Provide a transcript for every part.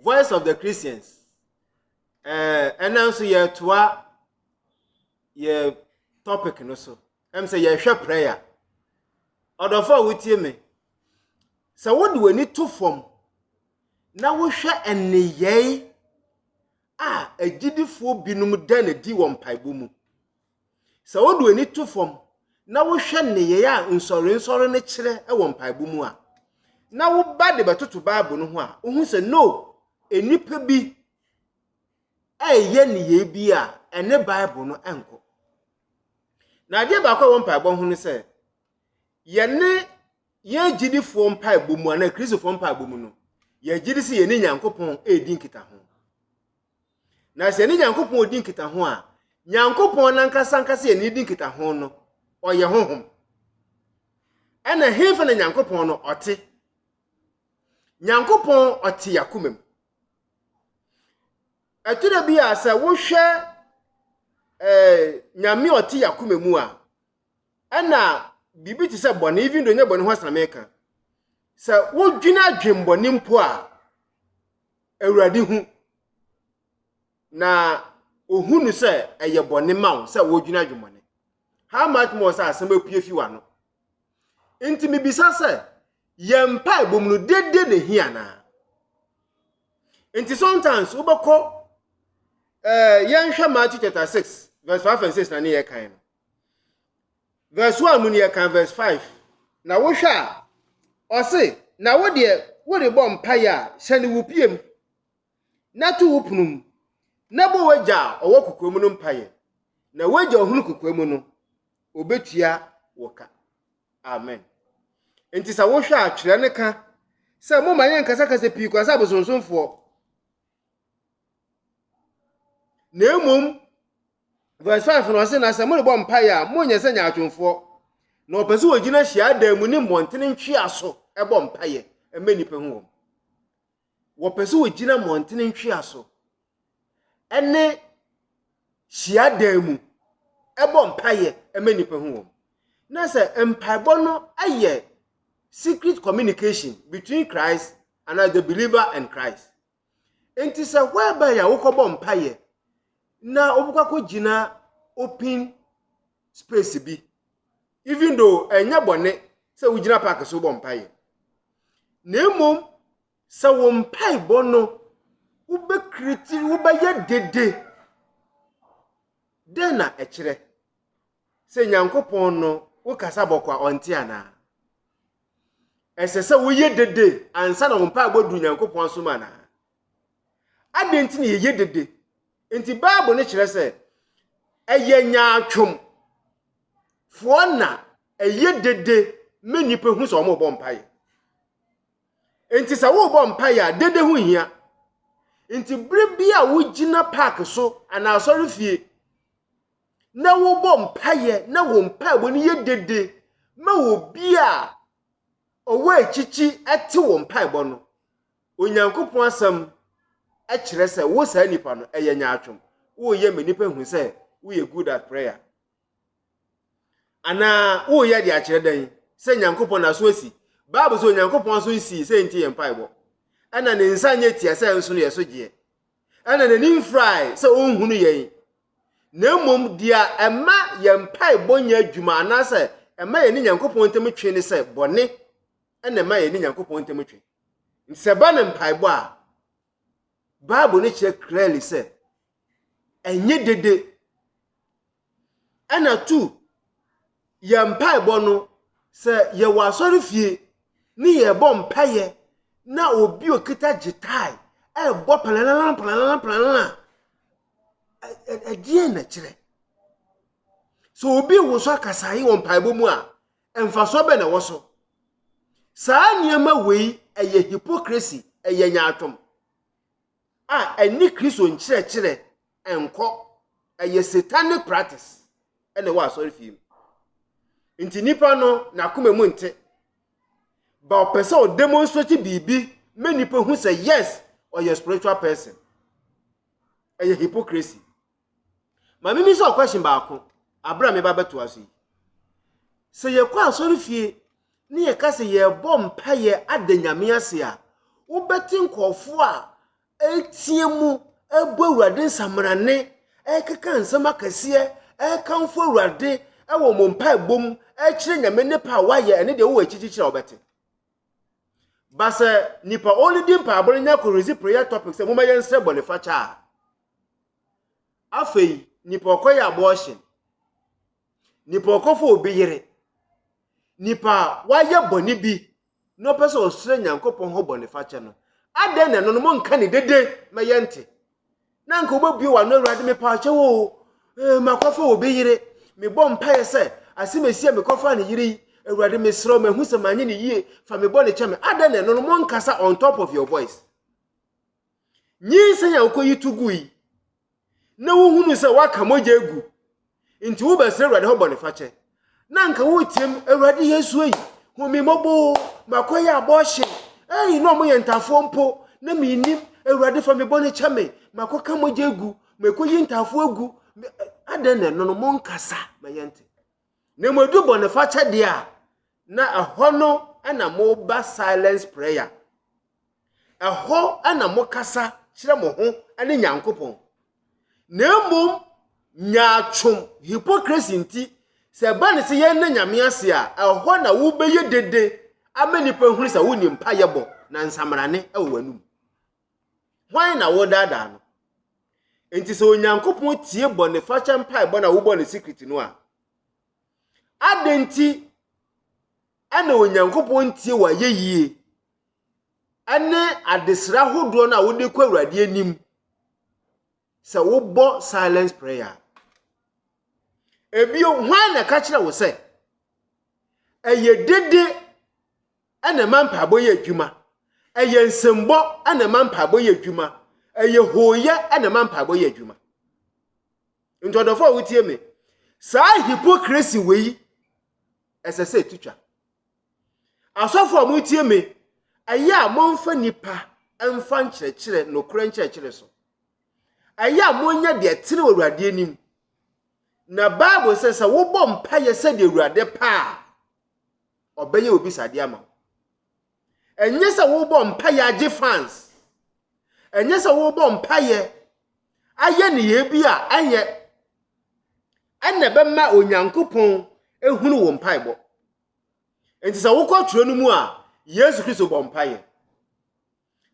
voice of the christians ɛɛ ɛna nso yɛtoa yɛ topic no so ɛm sɛ yɛhwɛ prayer ɔdɔfo a wotie me sɛ wode w'ani to fam na wohwɛ nneyɛe a agyidifoɔ binom da no di wɔ mpaebɔ mu Sɛ wode w'ani to fam na wohwɛ nneyɛe a nsɔrensɔre no kyerɛ wɔ mpaebɔ mu a, na woba de bɛtoto Bible no ho a, wuhu sɛ no, nnipa bi reyɛ nneyɛe bi a ɛne Bible no nkɔ. Na adeɛ baako a ɛwɔ mpaebɔ ho ne sɛ, yɛne yɛn agyidifoɔ mpaebɔ mu anaa Kristofoɔ mpaebɔ mu no, yɛgye di sɛ yɛne Nyankopɔn redi nkitaho. Na sɛ yɛne Nyankopɔn redi nkitaho a, Nyankopɔn no ankasa ankasa yɛne redi nkitaho no, ɔyɛ honhom. Ɛna hefa na Nyankopɔn no ɔte? Nyankopɔn ɔte yakoma mu. Ɛtɔ da bi a sɛ wohwɛ eh, Nyame ɔte yakoma mu a, ɛna biribi te sɛ bɔne, even though nyɛ bɔne ho asɛm na meka. Sɛ wodwene adwembɔne mpo a, Awurade hu, na ohu no sɛ ɛyɛ bɔne ma wo sɛ wodwene adwemmɔne. How much more sɛ asɛm apue fi w'ano? Nti mibisa sɛ, yɛn mpaebɔ mu no, dede na ehia anaa? Nti sometimes wobɛkɔ eh, yɛnhwɛ Matthew chapter 6 verse 5 and 6 na ne yɛ kan no. Verse one mu nea ɛka verse five na wohwɛ a, ɔse, na wo deɛ worebɔ mpaeɛ a, hyɛne wo pie mu, na to wo pono mu, na bɔ w'agya a ɔwɔ kokoa mu no mpaeɛ, na w'agya a ɔhunu kokoa mu no, ɔbɛtua wo ka. Amen. Nti sɛ wohwɛ a, twerɛ no ka sɛ moma yɛ nkasakasa pii kwan sɛ abosonsomfoɔ, na mmom Verse five no ɔse na sɛ morebɔ mpaeɛ a monyɛ sɛ nyaatwomfoɔ. Na ɔpɛ sɛ wɔgyina hyiadan mu ne mmɔntene ntwea so bɔ mpaeɛ ma nnipa hu wɔn. Wɔpɛ sɛ wɔgyina mmɔntene ntwea so ne hyiadan mu bɔ mpaeɛ ma nnipa hu wɔn. Na sɛ mpaebɔ no yɛ secret communication between Christ anaa the believer and Christ. Enti sɛ whereby a wokɔbɔ mpaeɛ na wobɛkɔ akɔgyina open space bi, even though ɛnyɛ bɔne sɛ wogyina park so wobɔ mpaeɛ, na mmom sɛ wo mpaebɔ no wobɛkriti, wobɛyɛ dede, dɛn na ɛkyerɛ? sɛ Nyankopɔn no wo kasa bɔkɔ a ɔnte anaa? Ɛsɛ sɛ woyɛ dede ansa na wo mpaebɔ du Nyankopɔn asom anaa? Adɛn nti na yɛyɛ dede? Nti Bible no kyerɛ sɛ ɛyɛ nyaatwom foɔ na ɛyɛ dede ma nnipa hu sɛ wɔn rebɔ mpaeɛ. Nti sɛ worebɔ mpaeɛ a dede ho hia. Nti bere bi a wogyina park so anaa asɔre fie na wɔbɔ mpaeɛ na wɔn mpaebɔ no yɛ dede ma obi a ɔwɔ akyikyi te wɔn mpaebɔ no, Onyankopɔn asɛm kyerɛ sɛ wo saa nipa no ɛyɛ nyaatwom. Woyɛ ma nipa hu sɛ woyɛ good at prayer. Anaa woyɛ de akyerɛ dɛn sɛ Nyankopɔn n'aso asi. Bible sɛ Onyankopɔn aso nsii sɛ nti yɛ mpaebɔ. Ɛna ne nsa nyɛ tia sɛ nso no yɛ so gyeɛ. ɛna n'ani mfrae sɛ ɔnhunu yɛn, na mmom deɛ ɛma yɛn mpaebɔ nyɛ adwuma anaasɛ ɛma yɛne Nyankopɔn ntam twe ne sɛ bɔne ɛna ɛma yɛne Nyankopɔn ntam twe. Nti sɛ ɛba ne mpaebɔ a, Bible no kyerɛ clearly sɛ ɛnyɛ dede. ɛna tu yɛn mpaebɔ no sɛ yɛwɔ asɔre fie ne yɛbɔ mpaeɛ na obi okita gyetae ɛbɔ palalalan palalalan palalalan ɛdeɛ na kyerɛ sɛ obi wo so akasae wɔ mpaebɔ mu a mfasoɔ bɛ na ɛwɔ so saa nneɛma wei ɛyɛ hypocrisy ɛyɛ nyaatwom a ɛnye Kristo nkyerɛkyerɛ nkɔ. Ɛyɛ satanic practice na ɛwɔ asɔrefie mu. Nti nipa no n'akoma mu nte. Ba ɔpɛ sɛ ɔ demonstrate biribi ma nipa hu sɛ yes, ɔyɛ spiritual person. Ɛyɛ hypocrisy. Maame bisa wo question baako aberɛ a meba bɛtoa so yi. Sɛ yɛkɔ asɔrefie ne yɛka sɛ yɛrebɔ mpaeɛ ada Nyame ase a, wobɛte nkurɔfoɔ a ɛreteɛ mu ɛrebɔ Awurade nsamanane, ɛrekeka nsɛm akɛseɛ, ɛrekamfo Awurade ɛwɔ mo mpaebɔ mu, ɛrekyerɛ Nyame ne pɛ a wayɛ ɛne deɛ wowɔ akyirikyirikyiri a wobɛte. Ba sɛ nipa ɔredi mpaebɔ no nya kɔrezi prayer topic sɛ momma yɛnsrɛ bɔnefakyɛ a, Afei nipa ɔkɔyɛ abortion, nipa ɔkɔfa obi yere, nipa a wayɛ bɔne bi na ɔpɛ sɛ ɔsrɛ Nyankopɔn hɔ bɔnefakyɛ no, adɛn na ɛno no monka ne dede ma yɛnte? Na nka wobɛbue w'ano Awurade mepaakyɛ wo o, eh, makɔfa obi yere, mebɔ mpaeɛ sɛ asɛm ɛsi a mekɔfaa ne yere yi, Awurade mesrɛ wo mahu sɛ manyɛ ne yie, fa me bɔne kyɛ me. Adɛn na ɛno no monkasa on top of your voice? Nyinsɛn a wokoyi to gui na wohunu sɛ wɔaka mogya agu, nti wobɛsrɛ Awurade hɔ bɔnefakyɛ. Na anka woreteam, Awurade Yesu ei, hu me mmɔbɔ o, makɔyɛ abortion, ei, na wɔyɛ ntaafoɔ mpo, na mennim, Awurade fa me bɔne kyɛ me, makɔka mogya agu, makɔyi ntaafoɔ agu, adɛn na ɛno no monkasa ma yɛnte. Na mmom ɛdu bɔnefakyɛ deɛ a, na ɛhɔ no na moba silence prayer. Ɛhɔ na mokasa kyerɛ mo ho ne Nyankopɔn. Na mmom nyaatwom, hypocrisy, nti, sɛ ɛba no sɛ yɛnna Nyame ase a, ɛhɔ na wobɛyɛ dede ama nnipa ahunu sɛ wonni mpaeɛ bɔ na nsamrane wɔ w'anom. Hwan na woredaadaa no? Nti sɛ Onyankopɔn tie bɔnefakyɛ mpaebɔ na wobɔ no secret no a, adɛn nti na Onyankopɔn ntie w'ayɛyie ne adesrɛ ahodoɔ no a wode kɔ Awurade anim sɛ wobɔ silence prayer. Ebio, hwan na ɛka kyerɛ wo sɛ ɛyɛ dede na ɛma mpaebɔ yɛ adwuma, ɛyɛ nsɛmbɔ na ɛma mpaebɔ yɛ adwuma, ɛyɛ hooyɛ na ɛma mpaebɔ yɛ adwuma. Nti ɔdɔfo a wotie me, saa hypocrisy wei ɛsɛ sɛ ɛtutwa. Asɔfo a motie me, ɛyɛ a momfa nnipa mfa nkyerɛkyerɛ nokorɛ nkyerɛkyerɛ so. Ɛyɛ a monyɛ deɛ ɛtene wɔ Awurade anim. Na Bible sɛ sɛ wobɔ mpaeɛ sɛdeɛ Awurade pɛ a, ɔbɛyɛ obisadeɛ ama wo. Ɛnyɛ sɛ wobɔ mpaeɛ agye fans. Ɛnyɛ sɛ wobɔ mpaeɛ ayɛ nneyɛɛ bi a ɛnyɛ ɛna ɛbɛma Onyankopɔn ehunu wo mpaebɔ. Enti sɛ wokɔ twerɛ no mu a, Yesu Kristo bɔ mpaeɛ.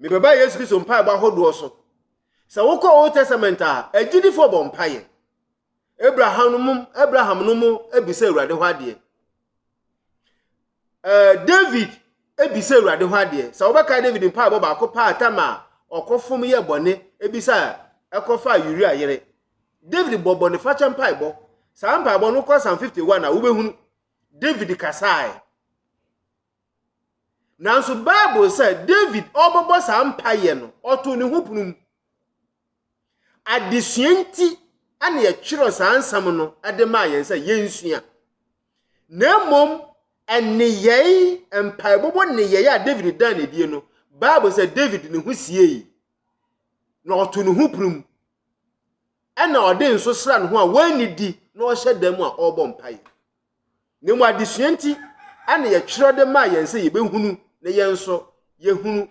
Mebɛba Yesu Kristo mpaebɔ ahodoɔ so. Sɛ wokɔ Old Testament a, agyidifoɔ bɔ mpaeɛ. Abraham no mu Abraham no mu bisa Awurade hɔ adeɛ. Ɛɛ David bisa Awurade hɔ adeɛ. Sɛ wobɛka David mpaebɔ baako paa atam a ɔkɔfom yɛ bɔne ebisa ɛkɔfa Uria yere. David bɔ bɔnefakyɛ mpaebɔ. Saa mpaebɔ no kɔ Psalm 51 a wobɛhunu. David kasae. Nanso Bible sɛ David ɔrebɛbɔ saa mpaeɛ no, ɔtoo ne ho pono mu. Adesua nti na yɛtwerɛ saa nsɛm no de maa yɛn sɛ yɛnsua. Na mmom nneyɛe, mpaebɔbɔ nneyɛe a David daa no adie no, Bible sɛ David ne ho siei, na ɔtoo ne ho pono mu. na ɔde nso sra ne ho a wanni di na ɔhyɛ dan mu a ɔrebɔ mpae. Na mmom adesua nti na yɛtwerɛ de maa yɛn sɛ yɛbɛhunu na yɛn nso yɛhunu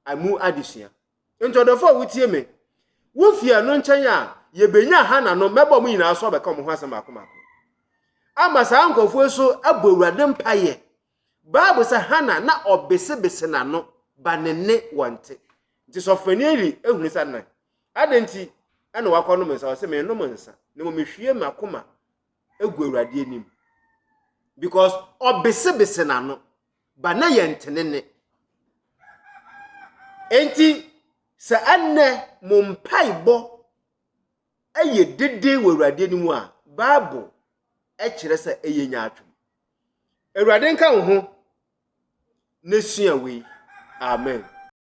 ɛmu adesua. Nti ɔdɔfo a wotie me, wo fie ɛno nkyɛn a yɛbɛnya ha na no mɛbɔ mo nyinaa so abɛka mo ho asɛm baako baako. Ama saa nkurɔfoɔ so abɔ Awurade mpaeɛ Bible sɛ Hana na ɔbesebese n'ano ba ne ne wɔ nte. Nti sɔfopanyin Eli hunu sɛ na adɛn nti na wakɔnom nsa? Ɔse, mennom nsa, na mmom mehwie m'akoma gu Awurade anim. Because ɔbesebese n'ano ba na yɛ nte ne nne. Enti sɛ ɛnnɛ mo mpaebɔ yɛ dede wɔ Awurade anim a, Bible kyerɛ sɛ ɛyɛ nyaatwom. Awurade nka wo ho na sua wei. Amen.